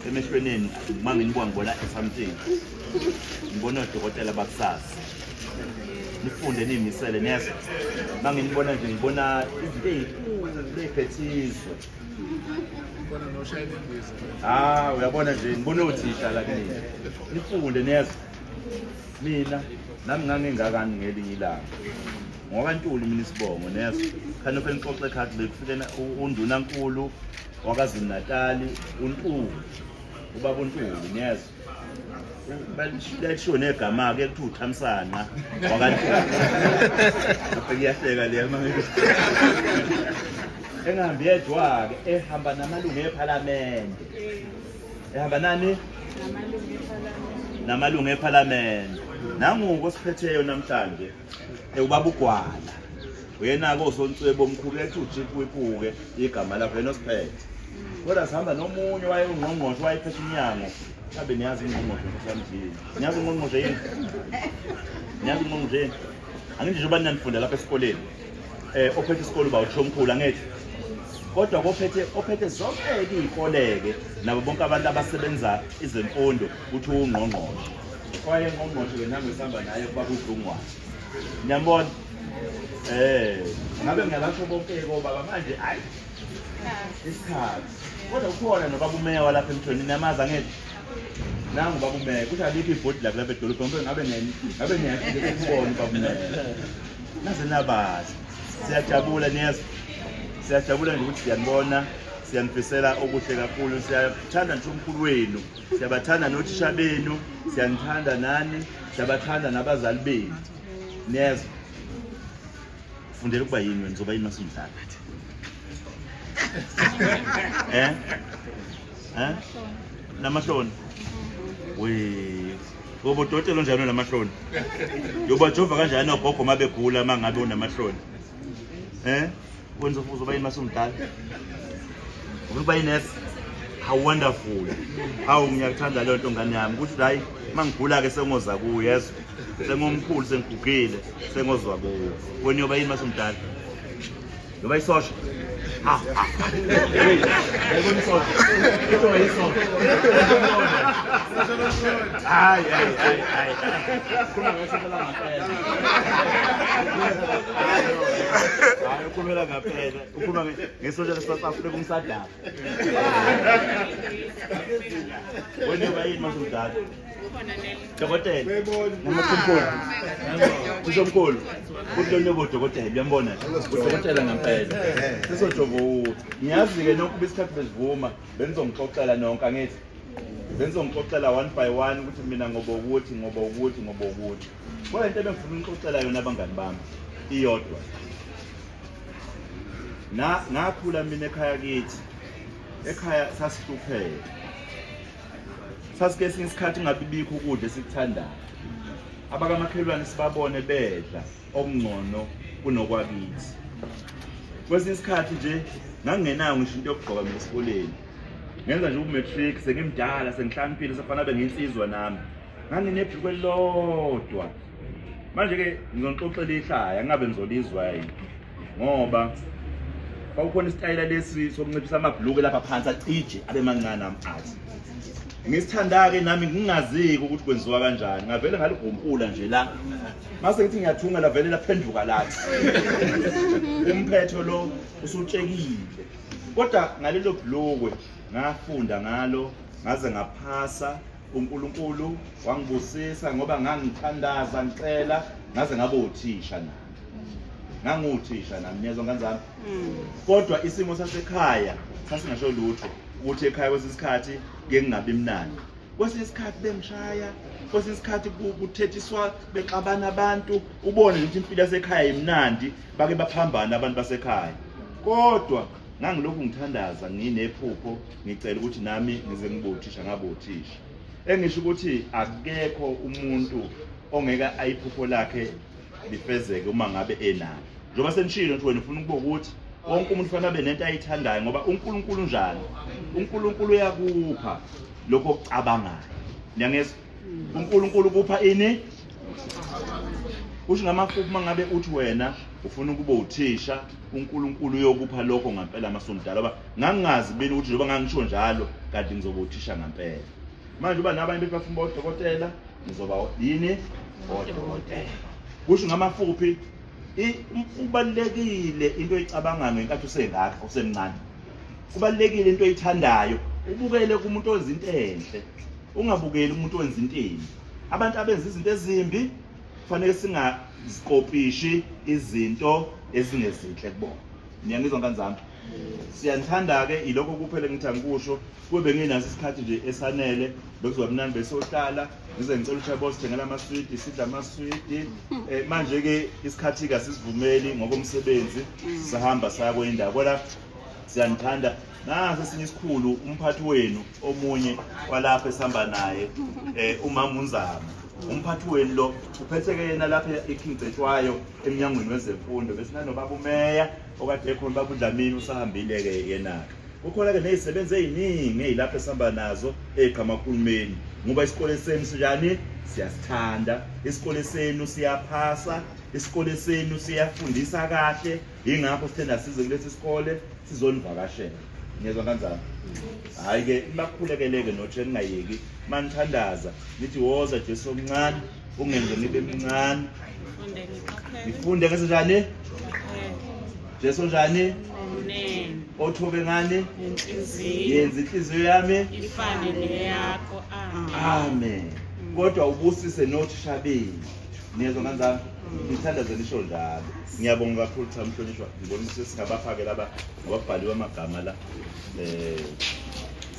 emehlweni enu uma nginibuka ngibona something ngibona odokotela bakusasa nifunde niyimisele nezwa uma nginibona nje ngibona izinto eyiphethiswe ha uyabona nje ngibona othisha la kini nifunde nezwa mina nami ngangingakani ngelinye ilanga ngoba ntuli mina isibongo nezwa khani ofenixoxe khathi bekufikena undunankulu wakazulu-natali untulu ubaba untulu niyezwa lalishiwo negama-ke kuthiwa uthamsanqa wakantulu iyahleka leya engahambi yedwa-ke ehamba namalungu ephalamende ehamba nani namalungu ephalamende nanguko osiphetheyo namhlanje ewubaba ugwala uyena-ke osontswebe omkhulu ethi ujipuipuke igama lakho yena osiphethe kodwa sihamba nomunye waye ungqongqoshe wayephethe umnyango abe niyazi ingqongqoshe mhlamjini niyazi ingqongqoshe yini niyazi ingqongqoshe yini angithi njengoba ninanifunda lapha esikoleni um ophethe isikole uba uthisho omkhulu angithi kodwa kophethe ophethe zonke-ke iy'koleke nabo bonke abantu abasebenza izemfundo kuthiwa ungqongqoshe kwaye ngqongqoshe ke nam esihamba naye kuba kudlungwane niyambona eh ngabe ngiyabasho bonke kobaba manje hayi isikhathi kodwa ukhona nobaba umeya walapha emthweni niyamazi angeke nangu ubaba umeya kuthi alikho ibhodi la kulapha edolobheni kodwa ngabe ngabe niyafike kubona ubaba umeya naze nabazi siyajabula niyezwa siyajabula nje ukuthi siyanibona siyanifisela okuhle kakhulu siyathanda nje umkhulu wenu Siyabathanda nothisha benu, siyanithanda nani, siyabathanda nabazali benu. Niyezwa? Fundela ukuba yini wena, uzoba yini masumdlala? Eh? Eh? Namahloni. We. Ngoba udokotela onjani onamahloni? Yobajova kanjani ogogo uma begula uma ngabe unamahloni? Eh? wenza ufuzo uba yini masumdala ufuna uba yinesi how wonderful hawu ngiyakuthanda leyo nto ngane yami ukuthi hayi uma ngigula-ke sengoza kuyo yezwa sengomkhulu sengigugile sengozwa kuyo wena uyoba yini masumdala uyoba isosha Ah, ah. Pegou no sol. Eu tomei sol. Ai, ai, ai, ai. hayi ukhulumela ngaphela ukhuluma ngesotsha lesouth africa umsadaba wena uba yini mase udala dokotela namakhumkhulu usomkhulu kuthi lo nyobo udokotela uyambona udokotela ngampela sisojovo ngiyazi-ke nonke uba isikhathi bezivuma benizongixoxela nonke angithi bengizongixoxela one by one ukuthi mina ngoba ukuthi ngoba ukuthi ngoba ukuthi kodwa into ebengifuna unixoxela yona abangani bami iyodwa na ngakhula mina ekhaya kithi ekhaya sasihlupheka sasike esinye isikhathi ingabibikho ukudla esikuthandayo abakamakhelwane sibabone bedla okungcono kunokwakithi kwesinye isikhathi nje ngangingenayo ngisho into yokugqoka mina esikoleni ngenza nje umatric sengimdala sengihlaniphile sefana be nginsizwa nami nganginebhuku elilodwa manje ke ngizonixoxela ihlaya ngingabe ngizolizwa yini ngoba kwakukhona isitayela lesi sokunciphisa amabhuluke lapha phansi acije abe mancane amathi ngisithanda-ke nami ngingaziki ukuthi kwenziwa kanjani ngavele ngaligompula nje la mase ngithi ngiyathunga lavele laphenduka lathi umphetho lo usutshekile kodwa ngalelo bhulukwe ngafunda ngalo ngaze ngaphasa uNkulunkulu wangibusisa ngoba ngangithandaza ngicela ngaze ngabe uthisha na nganguthisha nami niyezwa ngane zami mm. kodwa isimo sasekhaya sasingasho lutho ukuthi ekhaya kwesinye isikhathi ke ngingabi mnandi kwesinye isikhathi bengishaya kwesinye isikhathi kuthethiswa bexabana abantu ubone ukuthi impilo yasekhaya imnandi bake baphambana abantu basekhaya kodwa ngangilokhu ngithandaza nginephupho ngicela ukuthi nami ngize ngibe uthisha ngabe uthisha engisho ukuthi akekho umuntu ongeke ayiphupho lakhe lifezeke uma ngabe enalo njengoba senishilo ukuthi wena ufuna ukuba ukuthi wonke umuntu fanele abe nento ayithandayo ngoba uNkulunkulu njalo uNkulunkulu uyakupha lokho okucabangayo niyangezwa uNkulunkulu kupha ini kusho ngamafuphi uma ngabe uthi wena ufuna ukuba uthisha uNkulunkulu uyokupha lokho ngampela masomdala ngoba ngangingazi bini ukuthi njengoba ngangisho njalo kanti ngizoba uthisha ngampela manje uba nabanye bethi bafuna uba udokotela ngizoba yini odokotela kusho ngamafuphi kubalulekile into oyicabangayo ngenkathi usengaka usemncane kubalulekile into oyithandayo ubukele kumuntu ozinto enhle ungabukeli umuntu wenza into embi abantu abenza izinto ezimbi kufanele singazikopishi izinto ezingezinhle kubona niyangizwa ngani zami siyanithanda-ke ilokho kuphela ngithi angikusho kube benginaso isikhathi nje esanele bekuzoba mnandi besohlala ngize ngicela ukuthi yabo sithengela amaswidi sidla amaswidi um eh, manje-ke isikhathi-ke asisivumeli ngokomsebenzi sisahamba saya kwenye indawo kodwa siyanithanda nasi esinye isikhulu umphathi wenu omunye walapha esihamba naye um umama unzama umphathi wenu lo uphetheke yena lapha eking cetshwayo emnyangweni wezemfundo besinanobaba umeya okade ekhona ubaba udlamini usahambile-ke yena-ke kukhona-ke nezisebenzi eziningi ezilapha esihamba nazo ey'qhamakahulumeni ngoba isikole senu sinjani siyasithanda isikole senu siyaphasa isikole senu siyafundisa kahle yingakho sithe nasize kulesi sikole sizonivakashela ngiyezwa kanjani hhayi-ke nibakhulekele-ke notshe ningayeki uma nithandaza nithi woza jesu omncane ungenze ngibe mncane ngifunde ngesenjani jesu njani othobe ngani yenza inhliziyo yami ifane neyakho amen kodwa ubusise nothisha benu niyezwa kanjani ngithandaze nisho njalo ngiyabonga kakhulu cha mhlonishwa ngibona ukuthi singabafake laba ngababhaliwe amagama la um